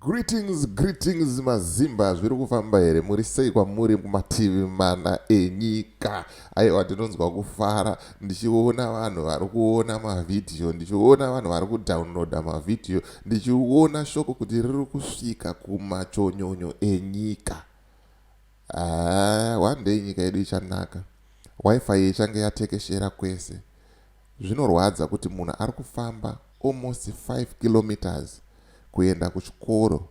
Greetings greetings mazimba zviri kufamba here muri sei kwamuri kumativi mana enyika aiwa ndinonzwa kufara ndichiona vanhu vari kuona mavhidhiyo ndichiona vanhu vari kudownloada mavhidhiyo ndichiona shoko kuti riri kusvika kumachonyonyo enyika Haa one day nyika yedu ichanaka wifi ichange yatekeshera kwese. Zvinorwadza kuti munhu ari kufamba almost five kilometres kuenda kuchikoro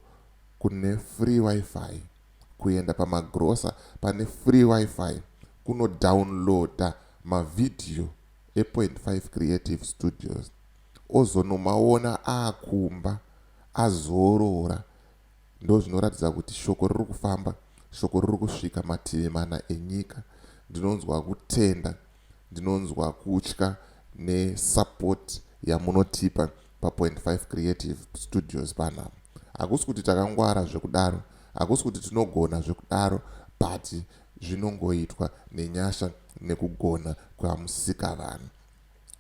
kune free wifi, kuenda pamagrocer pane free wifi, kuno downloader mavideo e Point Five Creative Studios ozonomaona aakumba azorora. ndozvinoratidza kuti shoko riri kufamba shoko riri kusvika mativi mana enyika ndinonzwa kutenda ndinonzwa kutya nesupport yamunotipa papoint 5 creative studios panapa hakusi kuti takangwara zvekudaro hakusi kuti tinogona zvekudaro but zvinongoitwa nenyasha nekugona kwamusika vanhu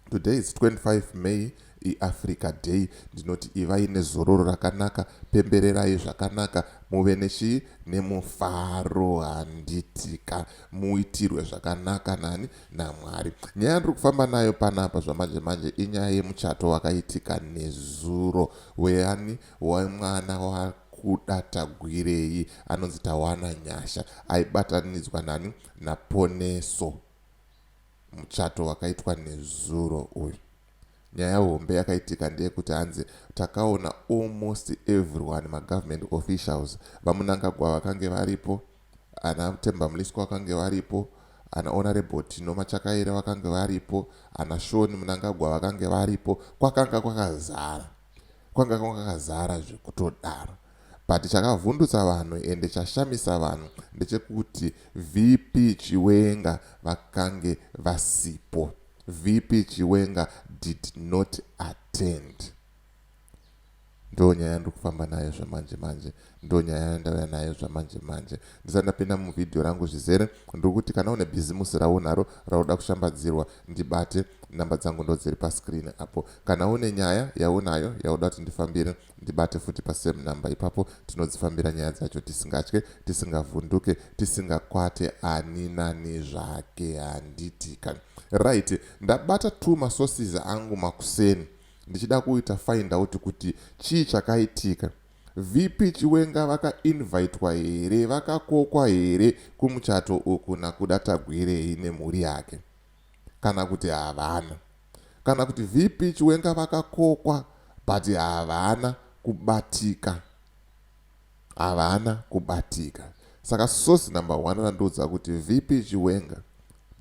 Today is 25 May iAfrica Day. Ndinoti ivai nezororo rakanaka, pembererai zvakanaka, muve nechii nemufaro handitika muitirwe zvakanaka nani naMwari. Nyaya ndiri kufamba nayo panapa zvamanje manje inyaya yemuchato wakaitika nezuro weani wemwana wa kuda tagwirei anonzi tawana nyasha aibatanidzwa nani naponeso Muchato wakaitwa nezuro uyu. Nyaya hombe yakaitika ndeyekuti hanzi takaona almost everyone magovernment officials, VaMunangagwa vakange varipo, ana Themba Mliswa vakange varipo, ana Honourable Tino Machakaire vakange varipo, ana Sean Munangagwa vakange varipo, kwakanga kwakazara. Kwanga kwakazara zvekutodaro. But chakavhundutsa vanhu ende chashamisa vanhu ndechekuti VP Chiwenga vakange vasipo. VP Chiwenga did not attend. Ndo nyaya ndiri kufamba nayo zvamanje manje. Ndo nyaya yandauya nayo zvamanje manje. Ndisati ndapinda muvideo rangu zvizere ndiri kuti kana une bhizimusi raunaro rauda kushambadzirwa ndibate namba dzangu ndo dziri pascreen apo. Kana une nyaya yaunayo yauda kuti ndifambire ndibate futi pasame number ipapo tinodzifambira nyaya dzacho tisingatye tisingavhunduke tisingakwate ani nani zvake handitika right ndabata two masources angu makuseni ndichida kuita find out kuti chii chakaitika vp chiwenga vakainvitwa here vakakokwa here kumuchato uku nakuda tagwirei nemhuri yake kana kuti havana. Kana kuti VP Chiwenga vakakokwa but havana kubatika. Havana kubatika. Saka source number one randiudza kuti VP Chiwenga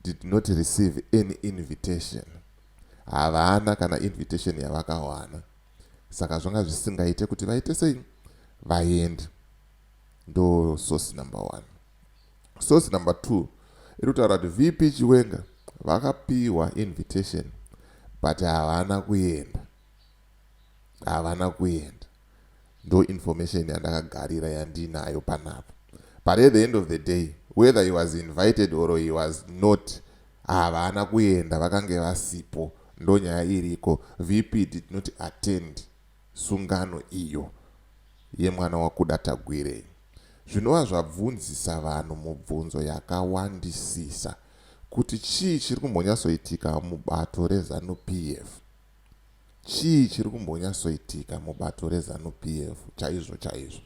did not receive any invitation. Havana kana invitation yavakawana. Saka zvanga zvisingaite kuti vaite sei? Vaende. ndo source number one source number two iri kutaura kuti vp chiwenga vakapiwa invitation but havana kuenda havana kuenda ndo information yandakagarira yandinayo panapa but at the end of the day whether he was invited or he was not havana kuenda vakange vasipo ndo nyaya iriko vp did not attend sungano iyo yemwana waKuda Tagwirei zvinova zvabvunzisa vanhu mubvunzo yakawandisisa kuti chii chiri kumbonyatsoitika mubato reZanu PF. Chii chiri kumbonyatsoitika mubato reZanu PF chaizvo chaizvo?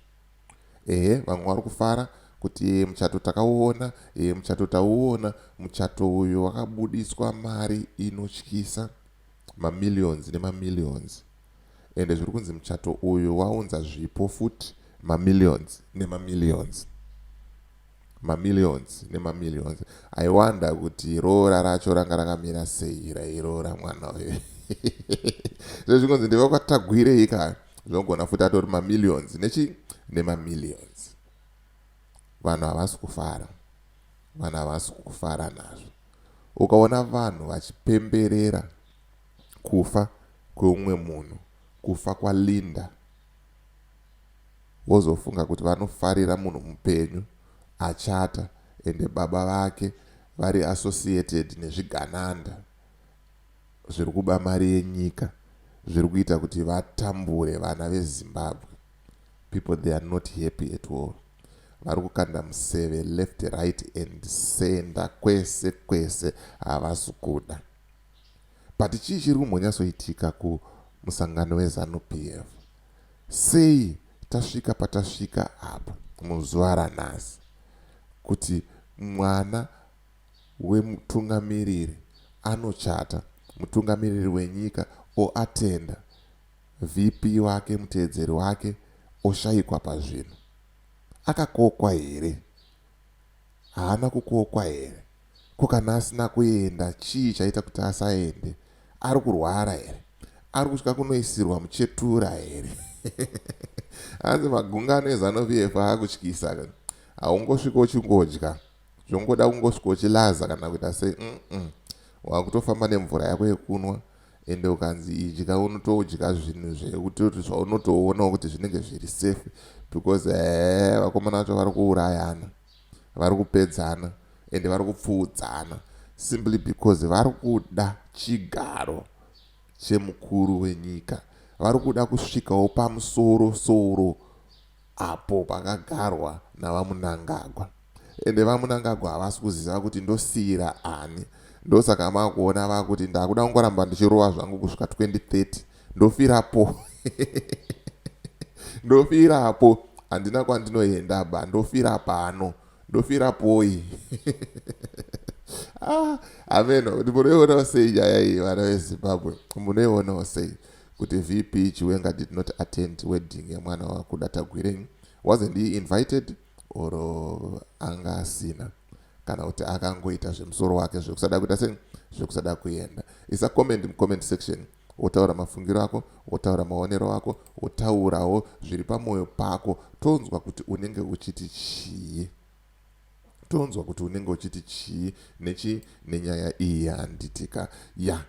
Ehe, vamwe vari kufara kuti ee muchato takauona, ee muchato tauona, muchato uyo wakabudiswa mari inotyisa, mamillions nemamillions. ende zviri kunzi muchato uyu waunza zvipo futi mamillions nemamillions mamillions nemamillions i wonder kuti roora racho ranga rakamira sei rairoora mwana uyu zve zvikunzi ndiva kwatagwirei ka zvinogona futi atori mamillions nechi nemamillions vanhu havasi kufara vanhu havasi kufara nazvo ukaona vanhu vachipemberera Kufa kweumwe munhu, kufa kwaLinda vozofunga kuti vanofarira munhu mupenyu achata ende baba vake vari associated nezvigananda zviri kuba mari yenyika zviri kuita kuti vatambure vana veZimbabwe. People they are not happy at all. Vari kukanda museve left, right and center kwese kwese havasi kuda. but chii chiri kumbonyatsoitika kumusangano wezanu pf sei tasvika patasvika apa muzuva ranhasi kuti mwana wemutungamiriri anochata mutungamiriri wenyika oatenda vp wake muteedzeri wake oshayikwa pazvino akakokwa here Haana kukokwa here? Ko kana asina kuenda chii chaita kuti asaende? Ari kurwara here? Ari kutya kunoisirwa muchetura here? Hanzi magungano eZanu PF akutyisa. Haungosviko uchingodya zvongoda kungosviko uchilaza kana kuita sei umm wakutofamba nemvura yako yekunwa ende ukanzi idya unotodya zvinhu zvekutoti zvaunotoonawo kuti zvinenge zviri safe because ee vakomana vacho vari kuurayana vari kupedzana ende vari kupfuudzana simply because vari kuda chigaro chemukuru wenyika vari kuda kusvikawo pamusoro soro apo pakagarwa naVaMunangagwa ende VaMunangagwa havasi kuziva kuti ndosiira ani ndosaka makuona vakuti ndakuda kungoramba ndichirova zvangu kusvika 2030 ndofirapo ndofirapo handina kwandinoenda ba ndofira pano ndofira poi ah, ameno munoionawo sei nyaya iyi vana vezimbabwe munoionawo sei kuti vp chiwenga did not attend wedding yemwana wakuda tagwirei wasn't he invited or anga asina kana kuti akangoita zvemusoro wake zvekusada kuita sei zvekusada kuenda isa comment mucomment section wotaura mafungiro ako wotaura maonero ako wotaurawo zviri pamwoyo pako tonzwa kuti unenge uchiti chii tonzwa kuti unenge uchiti chii nechii nenyaya iyi yanditika ya yeah.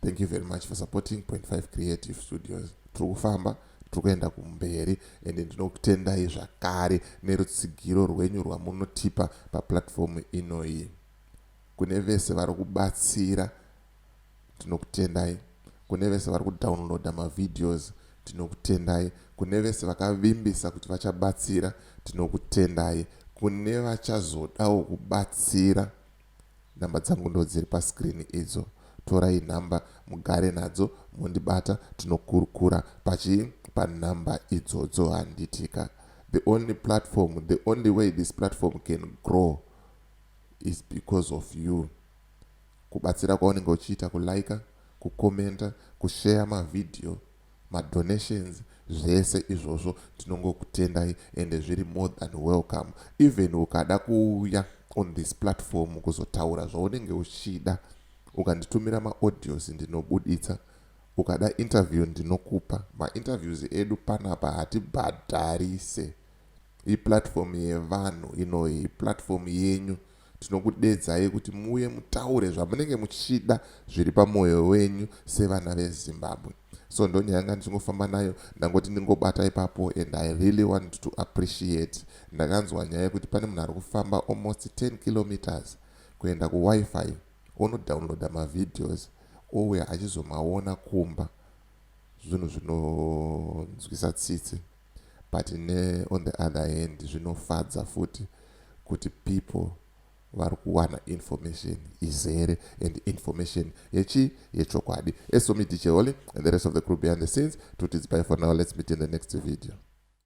thank you very much for supporting point five creative studios tiri kufamba tiri kuenda kumberi and ndinokutendai zvakare nerutsigiro rwenyu rwamunotipa paplatfomu inoyi kune vese vari kubatsira tinokutendai kune vese vari kudownloada mavideos tinokutendai kune vese vakavimbisa kuti vachabatsira tinokutendai kune vachazodawo kubatsira Number dzangu ndodziri pa screen idzo torai number mugare nadzo mondibata tinokurukura pachi pa number idzodzo handitika the only platform the only way this platform can grow is because of you kubatsira kwaunenge uchiita kuliker kukomenta kushare mavhidhiyo ma donations zvese izvozvo tinongokutendai ende zviri more than welcome even ukada kuuya on this platform kuzotaura zvaunenge uchida ukanditumira ma audios ndinobuditsa ukada interview ndinokupa ma interviews edu panapa hatibhadharise iplatform yevanhu inoyi platform yenyu Tinokudedzai kuti muuye mutaure zvamunenge muchida zviri pamoyo wenyu sevana veZimbabwe. So ndonyaya yanga ndichingofamba nayo ndangoti ndingobata ipapo and I really want to appreciate. Ndakanzwa nyaya yekuti pane munhu ari kufamba almost 10 kilometers kuenda kuWiFi onodownloada mavideos ouya achizomaona kumba. Zvinhu zvinonzwisa tsitsi. but ne on the other hand zvinofadza futi kuti people vari kuwana information izere and information yechi yechokwadi eso me dj holy and the rest of the crew behind the scenes tutidzipai for now let's meet in the next video